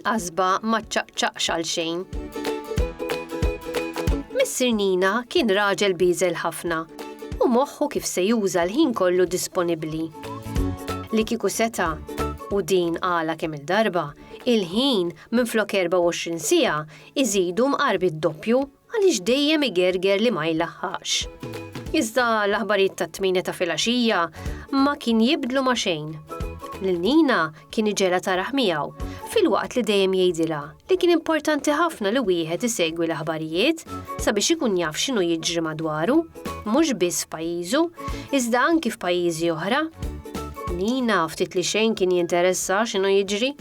il-qasba ma ċċaqċaqx għal xejn. Missir Nina kien raġel biżel ħafna u moħħu kif se juża l-ħin kollu disponibbli. Li kiku seta, u din għala kemm il-darba, il-ħin minn flok 24 sija Iżidu mqarbi d-doppju għaliex dejjem igerger li ma jlaħħaqx. Iżda l-aħbarijiet tat-tmienja ta' filgħaxija ma kien jibdlu ma' xejn. Lil Nina kien iġegħlha taraħ miegħu filwaqt li dejjem jgħidilha li kien importanti ħafna li wieħed isegwi l-aħbarijiet sabiex ikun jaf x'inhu jiġri madwaru, mhux biss f'pajjiżu, iżda anki f'pajjiżi oħra. Nina ftit li xejn kien jinteressa x'inhu jiġri,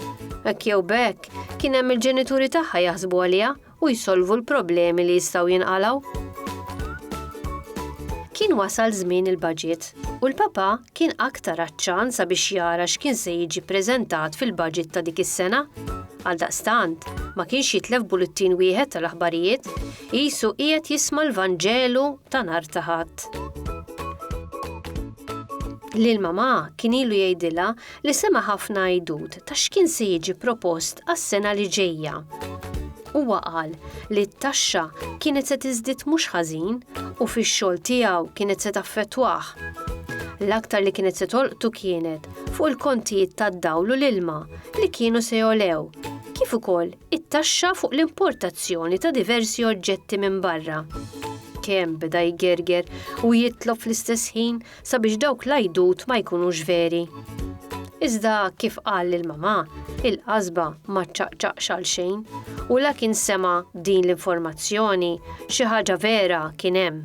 hekk jew b'hekk Kien hemm il-ġenituri tagħha jaħsbu għaliha u jsolvu l-problemi li jistgħu jinqalgħu. Kien wasal żmien il-budget u l-papa kien aktar aċċan sabiex jara x'kien se jiġi ppreżentat fil-budget ta' dik is-sena. Għal daqstant, ma kienx jitlef bullettin wieħed tal-aħbarijiet, qisu qiegħed jisma' l-Vanġelu ta' nar ta' ħadd. Lil mamà kien ilu jgħidilha li sema' ħafna għidut ta' x'kien se jiġi propost għas-sena li ġejja. Huwa qal li t-taxxa kienet se tiżdied mhux ħażin u fix-xogħol tiegħu kienet se taffettwah. L-aktar li kienet se tolqtu kienet fuq il-kontijiet tad-dawl u l-ilma li kienu se jogħlew, kif ukoll it-taxxa fuq l-importazzjoni ta' diversi oġġetti minn barra. Kemm beda jgerger u jitlob fl-istess ħin sabiex dawk l-għajdut ma jkunux veri. Iżda kif qal lil mamà, il-qasba ma ċċaqċaqx għal xejn u la kien sema' din l-informazzjoni xi ħaġa vera kien hemm.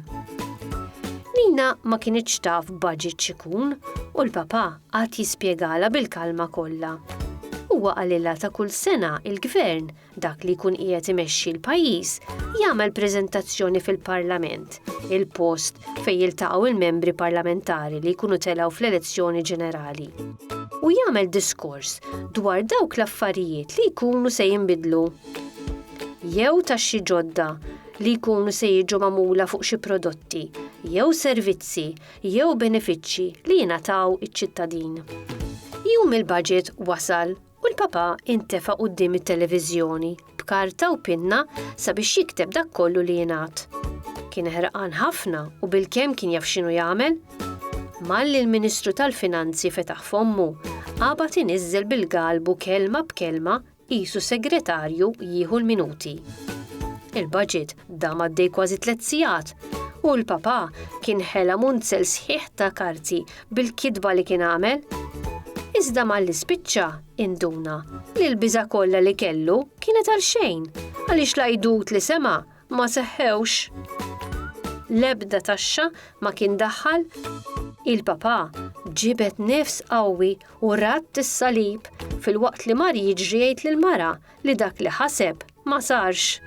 Nina ma kinitx taf budget xikun u l-papà għad jispjegala bil-kalma kollha. Huwa qalilha ta' kull sena il-gvern Dak li jkun qiegħed imexxi l-pajjiż jagħmel preżentazzjoni fil-Parlament, il-post fejn jiltaqgħu l-membri parlamentari li jkunu telgħu fl-elezzjoni ġenerali, u jagħmel diskors dwar dawk l-affarijiet li jkunu se jinbidlu jew taxxi ġodda li jkunu se jiġu magħmula fuq xi prodotti jew servizzi jew benefiċċji li jingħataw iċ-ċittadin. Jum il-Baġit wasal U l-Papa intefa' quddiem it-televiżjoni b'karta u pinna sabiex jikteb dak kollu li ingħad. Kien ħerqan ħafna u bilkemm kien jaf x'inhu jagħmel. Malli l-Ministru tal-Finanzi fetaħ fommu, qabad iniżżel bil-galbu kelma b'kelma qisu segretarju jieħu l-minuti. Il-budget dam għaddej kważi tliet sigħat u l-Papa kien ħela munzel sħiħ ta' karti bil-kitba li kien għamel. Iżda malli spiċċa, induna li l-biża' kollha li kellu kienet għal xejn għaliex l-għajdut li sema' ma seħħewx. L-ebda taxxa ma kien daħħal. Il-papa ġibet nifs qawwi u radd is-salib filwaqt li mar jiġri jgħid lill-mara li dak li ħaseb ma sarx.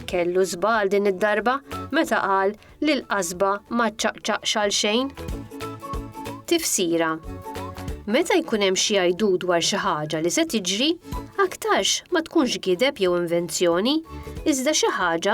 Kellu żbal din id-darba meta qal li l-qasba ma ċċaqċaqx għal xejn. Tifsira Meta jkun hemm xi jgħidu dwar xi ħaġa li se tiġri, aktarx ma tkunx gideb jew invenzjoni, iżda xi ħaġa